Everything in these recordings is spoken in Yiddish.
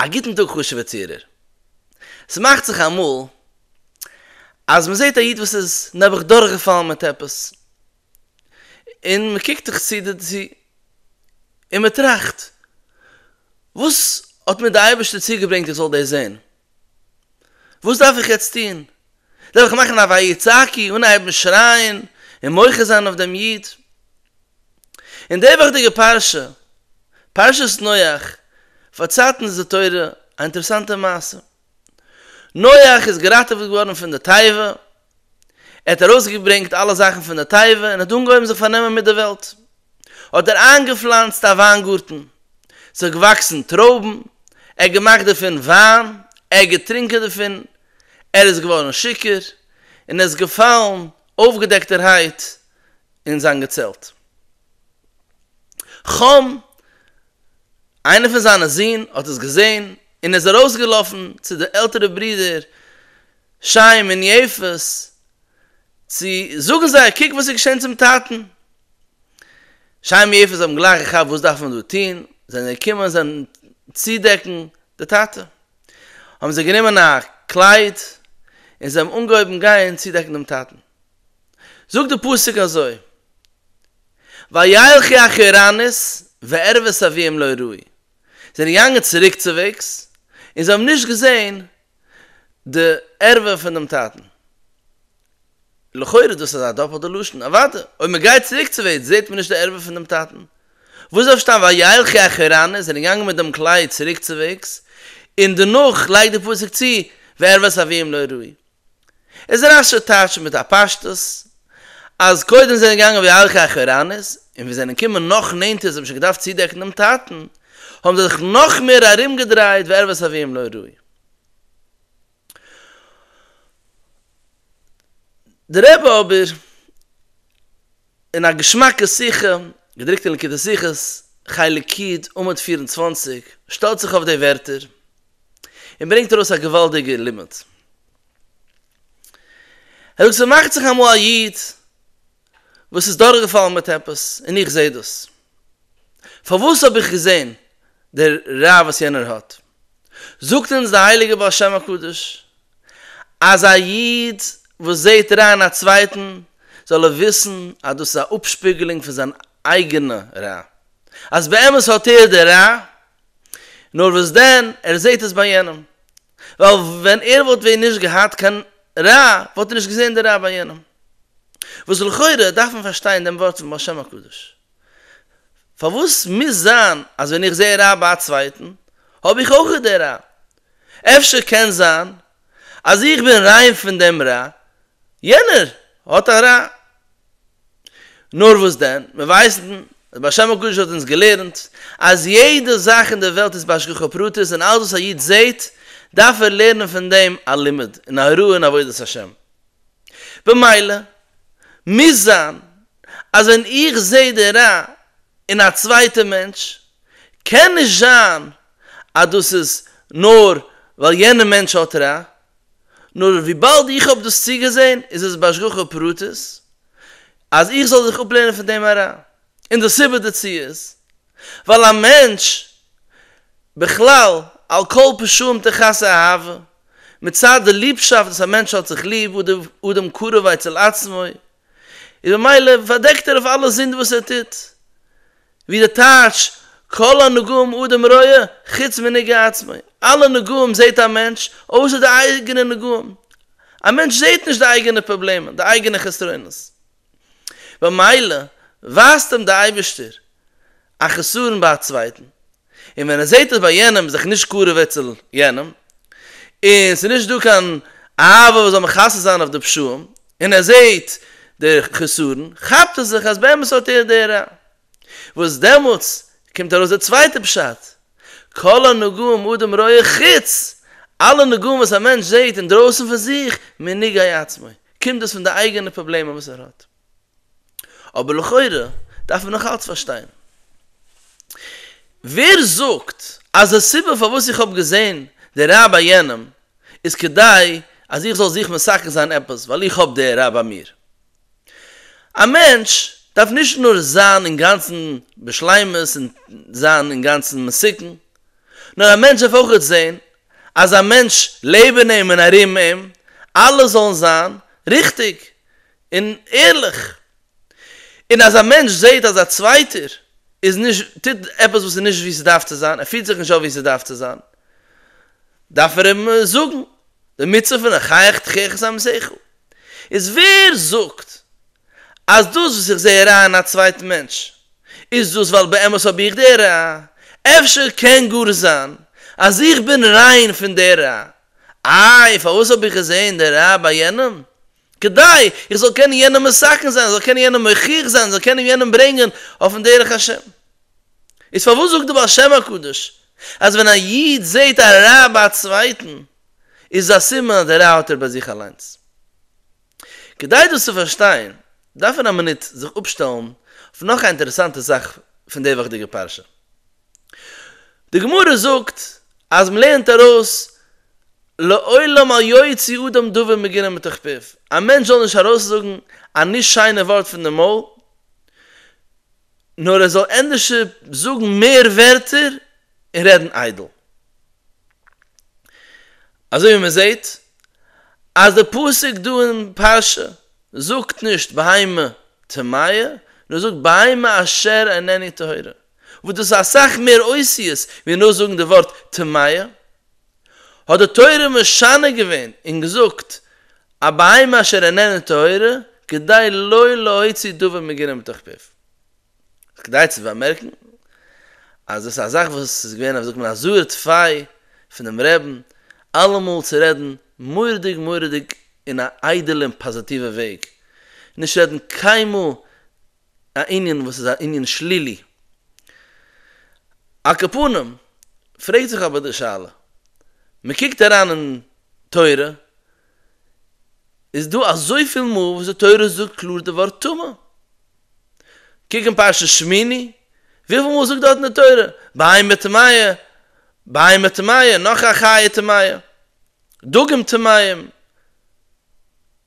א גוטן טאג חשוב'ע צוהערער. ס'מאכט זיך אמאל אז מ'זעט א איד וואס איז נעבעך דורכגעפאלן מיט עפעס, און מ'קוקט זיך צו דערצו, און מ'טראכט, וואס האט מיר די אייבערשטער צוגעברענגט איך זאל דאס זען? וואס דארף איך יעצט טון? דארף איך מאכן א ויצעקי, אנהייבן שרייען און מוחה זיין אויף דעם איד? אין די וואכדיגע פרשה, פרשת נח, פארציילט אונז די תורה א אינטערעסאנטע מעשה. נח איז געראטעוועט געווארן פון די תיבה, ער האט ארויסגעברענגט אלע זאכן פון די תיבה און האט אנגעהויבן זיך פארנעמען מיט די וועלט. האט ער איינגעפלאנצט א וויינגארטן, ס'האט געוואקסן טרויבן, ער האט געמאכט דערפון וויין, ער האט געטרונקען דערפון, ער איז געווארן שיכור, און ער איז געפאלן אויפגעדעקטערהייט אין זיין געצעלט. חם, איינער פון זיינע זון, האט עס געזען, און איז ארויסגעלאפן צו די עלטערע ברודער, שײם און יפֿת, צו זאָגן זײ, קוק װאָס איז געשען צום טאַטן! שײם און יפֿת האָבן גלײַך געכאַפּט װאָס דאַרף מען דאָ טאָן, זײַנען געקומען און זײַנען צודעקן די טאַטע. האָבן זײ גענומען אַ קלײד און זײ האָבן אָנגעהױבן גײן צודעקן דעם טאַטן. זאָגט דער פּסוק אַזױ, װילכי אחורנית וערבֿות אַבֿיהן לא ראו. זײ זענען געגאַנגען צוריקצװעגס און זײ האָבן נישט געזען די ערבה פון דעם טאטן. לכאורה דאס איז א דאפעלטע לשון, אוודאי, אויב מען גייט צוריק צו וועד זעט מען נישט די ערבה פון דעם טאטן. וואס דארף שטיין וילכי אחרנה, זענען געגאנגען מיט דעם כלי צוריק צו וועגס, און דערנאך לייגט דער פסוק צו, וערבת אביהם לא ראו. איז רש ש טייטשט מיט א פשטות אז קודם זענען געגאנגען ווי ארחי אחורנית, און ווי זענען געקומען נאך נענטערס האבן שוין געדארפט צודעקן דעם טאטן, האבן זיי זיך נאך מער ארומגעדרייט וערבות אביהם לא ראוי. דער רבי אבער, אין א געשמאקע שיחה, געדרוקט אין ליקוטי שיחות, חלק י', עמוד פֿיר און צוואַנציק, שטעלט זיך אויף די ווערטער, און ברענגט ארויס א געוואלדיגער לימוד. אויב ס'מאכט זיך אמאל א איד וואס איז דורכגעפאלן מיט עפעס און איך זעה דאס, פארוואס האב איך געזען די רע וואס יענער האט? זאגט אונז די הייליגע בעל שם הקדוש אז א איד וואס זעט רע אין א צווייטן זאל ער וויסן אז דאס איז א אפשפיגלונג פון זיין אייגענע רע, אז באמת האט ער די רע, נאר וואס דען, ער זעהט עס ביי יענעם. ווייל ווען ער וואלט ווען נישט געהאט קיין רע, וואלט ער נישט געזעהן די רע ביי יענעם. וואס לכאורה דארף מען פארשטיין דעם ווארט פון בעל שם הקדוש. פארוואס מוז זיין אז ווען איך זעה רע ביי א צווייטן, האב איך אויך די רע? אפשר קען זיין אז איך בין ריין פון דעם רע, יענער האט א רע, נאר וואס דען, מיר ווייסן אז ביי השם הקדוש האט אונז געלערנט אז יעדע זאך אין דער וועלט איז בהשגחה פרטית און אלץ וואס א איד זעט דארף ער לערנען פון דעם א לימוד און א הוראה אין עבודת השם. במילא מוז זיין אז ווען איך זע די רע אין א צווייטע מענטש קען נישט זיין אז דאס איז נאר ווייל יענע מענטש האט רע, נאר וויבאלד איך האב דאס צוגעזען איז עס בהשגחה פרטית אז איך זאל זיך אפלערנען פון דעם אריין, און די סיבה דערצו איז ווייל א מענטש בכלל על כל פשעים תכסה אהבה, מצד די ליבשאפט וואס א מענטש האט זיך ליב, אדם קרוב אצל עצמו, איז במילא פארדעקט ער אויף אלע זינד וואס ער טוט, ווי די טייטש כל הנגעים אדם רואה חוץ מנגע עצמו, אלע נגעים זעט א מענטש אויסער די אייגענע נגעים, א מענטש זעט נישט די אייגענע פראבלעמען, די אייגענע חסרונות, במילא ווייזט אים די אייבערשטער א חסרון ביי א צווייטן, און ווען ער זעט עס ביי יענעם זיך נישט קרוב אצל יענעם, און ס'איז נישט דא קיין אהבה וואס זאל מכסה זיין אויף די פשעים, און ער זעט די חסרון, כאפט ער זיך אז באמת האט ער די רע. וואס דעמאלטס קומט ארויס די צווייטע פשט, כל הנגעים אדם רואה חוץ, אלע נגעים וואס א מענטש זעט אינדרויסן פון זיך, מנגעי עצמו, קומט דאס פון די אייגענע פראבלעמען וואס ער האט. אבער לכאורה דארף מען נאכאלץ פארשטיין ווער זאגט אז די סיבה פארוואס איך האב געזען די רבי יענעם איז כדי אז איך זאל זיך מסכן זיין עפעס ווייל איך האב די רבי ביי מיר. א מענטש דארף נישט נאר זיין אינגאנצן בשלימות און זיין אינגאנצן מסוכן, נאר א מענטש דארף אויכעט זען אז א מענטש לעבן אים און ארום אים אלעס זאלן זיין ריכטיג און ערליך, און אז א מענטש זעהט אז א צווייטער איז נישט, טוט עפעס וואס איז נישט ווי ס'דארף צו זיין, ער פירט זיך נישט אויף ווי ס'דארף צו זיין, דארף ער אים זאגן די מצוה פון החייך תחיך את עמיתך, איז ווער זאגט אז דאס וואס איך זעה א רע אין א צווייטן מענטש איז דאס ווייל באמת האב איך די רע, אפשר קען גאר זיין אז איך בין ריין פון די רע, איי פארוואס האב איך געזעהן די רע ביי יענעם, כדי איך זאל קענען יענעם מסכן זיין, זאל קענען יענעם מוכיח זיין, זאל קענען יענעם ברענגען אויפן דרך השם. איז פארוואס זאגט די בעל שם הקדוש אז ווען א איד זעהט א רע ביי א צווייטן איז עס א סימן אז די רע האט ער ביי זיך אליינס? כדי דאס צו פארשטיין דארף מען א מינוט זיך אפשטעלן אויף נאך א אינטערעסאנטע זאך פון די וואכדיגע פרשה. די גמרא זאגט אז מען לערנט ארויס לעולם אל יוציא אדם דבר מגונה מתוך פיו, א מענטש זאל נישט ארויסזאגן א נישט שיינע ווארט פון די מויל, נאר ער זאל ענדערש זאגן מער ווערטער און רעדן איידל. אזוי ווי מען זעט אז די פסוק דא אין פרשה זאגט נישט בהמה טמאה, נאר זאגט בהמה אשר איננה טהורה. וואס דאס איז אסאך מער אותיות ווי נאר זאגן די ווארט טמאה, האט די תורה משנה געווען און געזאגט א בהמה אשר איננה טהורה כדי לא להוציא דבר מגונה מתוך פיו. איז כדאי צו באמערקן אז דאס איז א זאך וואס איז געווען א ווי זאגט מען א זוה ט פיי פונעם רעבן אלעמאל צו רעדן מורא'דיג מורא'דיג אין א איידעלע און פאזיטיווע וועג, נישט רעדן קיינמאל א ענין וואס איז א ענין שלילי. על כל פנים, פרעגט זיך אבער די שאלה, מען קוקט אריין אין תורה, איז דא אזויפיל מאל וואס די תורה זאגט קלאר די ווארט טמא. קוק אין פרשת שמיני, וויפיל מאל זאגט דארטן די תורה, בהמה טמאה, בהמה טמאה, נאך א חיה טמאה. דגים טמאים,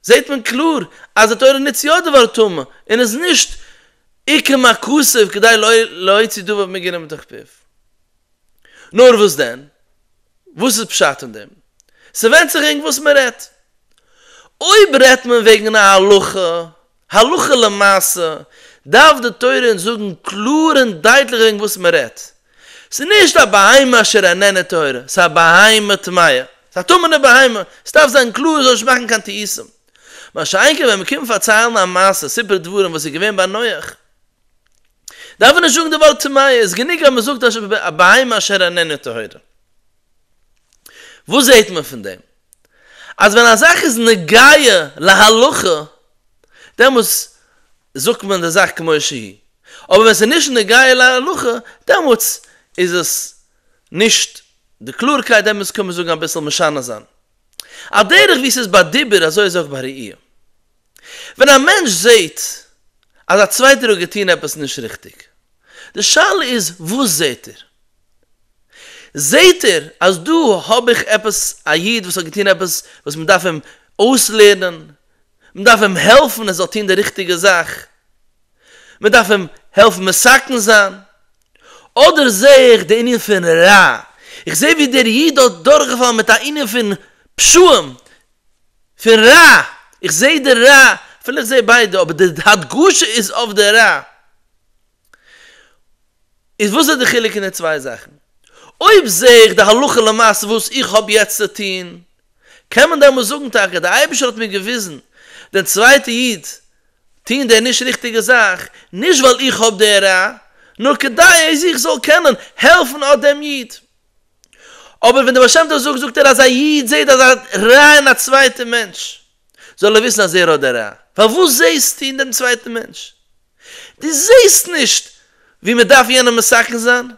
זעט מען קלאר אז די תורה נוצט יא די ווארט טמא, און איז נישט עיקר מקצב כדי להוציא דבר מגונה מתוך פיו. נאר וואס דען? וואס איז פשט אין דעם? ס'ווענדט זיך וועגן וואס מ'רעדט. אויב רעדט מען וועגן א הלכה הלכה למעשה דארף די תורה אונז זאגן קלאר און דייטליך וועגן וואס מען רעדט. ס'איז נישט א בהמה אשר איננה טהורה, ס'איז א בהמה טמאה, ס'איז א טמא'נע בהמה, ס'דארף זיין קלאר און זאל נישט מאכן קיין טעותים. מה שאין כן ווען מיר קומען פארציילן א מעשה, סיפור דברים, וואס איז געווען ביי נח, דארף מען נישט זאגן די ווארט טמאה, איז גענוג אז מען זאגט א בהמה אשר איננה טהורה. וואס זעט מען פון דעם? אז ווען א זאך איז נוגע להלכה דעמאלטס זאגט מען די זאך כמו שהיא, אבער ווען ס'איז נישט נוגע להלכה דעמאלטס איז עס נישט די קלארקייט דעמאלטס קען מען זאגן אביסל משנה זיין על דרך ווי ס'איז ביי דיבור אזוי איז אויך ביי ראי'. ווען א מענטש זעהט אז א צווייטער האט געטוהן עפעס נישט ריכטיג, די שאלה איז וואס זעהט ער? זעהט ער אז דא האב איך עפעס א איד וואס האט געטון עפעס וואס מען דארף אים אויסלערנען, מען דארף אים העלפן ער זאל טון די ריכטיגע זאך, מען דארף אים העלפן מסכן זיין, אדער זעה איך די ענין פון רע, איך זעה ווי דער איד האט דורכגעפאלן מיט א ענין פון פשעים, פון רע, איך זעה די רע, אפילו איך זעה ביידע אבער די הדגשה איז אויף די רע. איז וואס איז די חילוק אין די צוויי זאכן? אויב זע איך די הלכה למעשה וואס איך האב יעצט צו טון, קען מען דעמאלס זאגן טאקע דער אייבערשטער האט מיר געוויזן דער צווייטער איד טון דער נישט ריכטיגע זאך, נישט ווייל איך האב די רע, נאר כדי אז איך זאל קענען העלפן אט דעם איד. אבער ווען דער בעל שם טוב זאגט זאגט ער אז א איד זעט אזא רע אין א צווייטע מענטש, זאל ער וויסן אז ער האט די רע. פארוואס זעהסטו אין דעם צווייטן מענטש? דו זעהסט נישט ווי מען דארף יענעם מסכן זיין?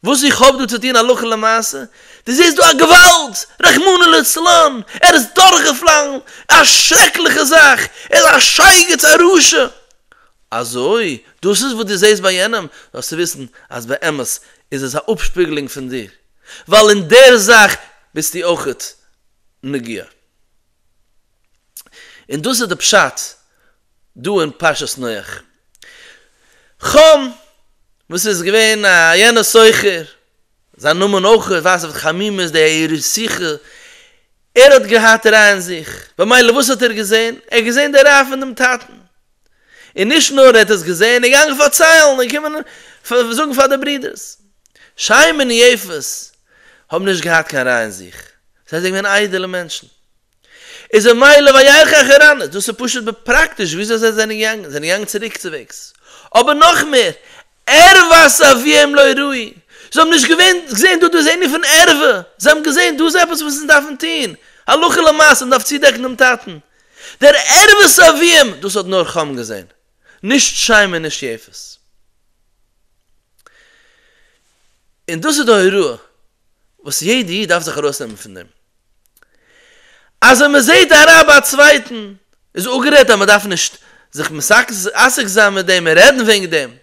וואס איך האב דא צו טון הלכה למעשה? דו זעהסט דא א געוואלד! רחמנא לצלן! ער איז דורכגעפאלן! א שרעקליכע זאך! ער איז א שייגעץ! א רשע! אזוי? דאס איז וואס דו זעהסט ביי יענעם? זאלסטו וויסן אז באמת איז עס א אפשפיגלונג פון דיר, ווייל אין דער זאך ביסטו אויך נוגע. און דאס איז די פשט דא אין פרשת נח. חם, וואס איז געווען א יענער סוחר, זיין נאמען אויך ווייזט אויף די חמימות, די יראת שכל, ער האט געהאט רע אין זיך, במילא וואס האט ער געזען? ער האט געזען די רע פון דעם טאטן. און נישט נאר ער האט עס געזען, ער איז געגאנגען פארציילן און קומען זאגן פאר די ברודערס. שיים און יפת האבן נישט געהאט קיין רע אין זיך, זיי זענען געווען איידעלע מענטשן. איז א מעלה וירח אחרנית, דאס איז פשוט בפראקטיש וויאזוי זיי זענען געגאנגען, זיי זענען געגאנגען צוריקצווועגס. אבער נאך מער, ערוות אביהם לא ראו, זיי האבן נישט געווען געזען דא דאס ענין פון ערוה, זיי האבן געזען דא איז עפעס וואס אונז דארפן טון, הלכה למעשה, מ'דארף צודעקן דעם טאטן, דער ערבות אביהם, דאס האט נאר חם געזען, נישט שיים און נישט יפת. און דאס איז די הוראה וואס יעדע איד דארף זיך ארויסנעמען פון דעם, אז ווען מען זעט א רע ביי א צווייטן, איז אפגערעדט אז מען דארף נישט זיך עסק זיין מיט דעם און רעדן וועגן דעם,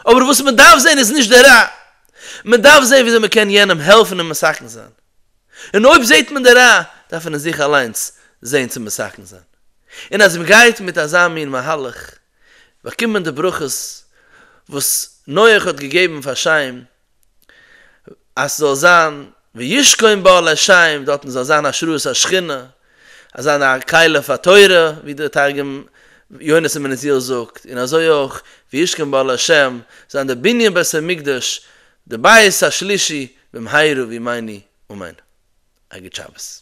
אבער וואס מען דארף זען איז נישט די רע, מען דארף זען וויאזוי מען קען יענעם העלפן און מסכן זיין, און אויב זעט מען די רע דארף מען אין זיך אליינס זען צו מסכן זיין, און אז מען גייט מיט אזא מין מהלך באקומט מען די ברכות וואס נח האט געגעבן פאר שם אז ס'זאל זיין וישכון באהל השם דארטן זאל זיין השראת השכינה, אז זיין א כלה פאר תורה ווי דער תרגום יונתן בן עזיאל זאגט, און אזוי אויך וישכון באהל השם זיין דער בנין בית המקדש די בית השלישי במהרה בימינו אמן א גוט שבת.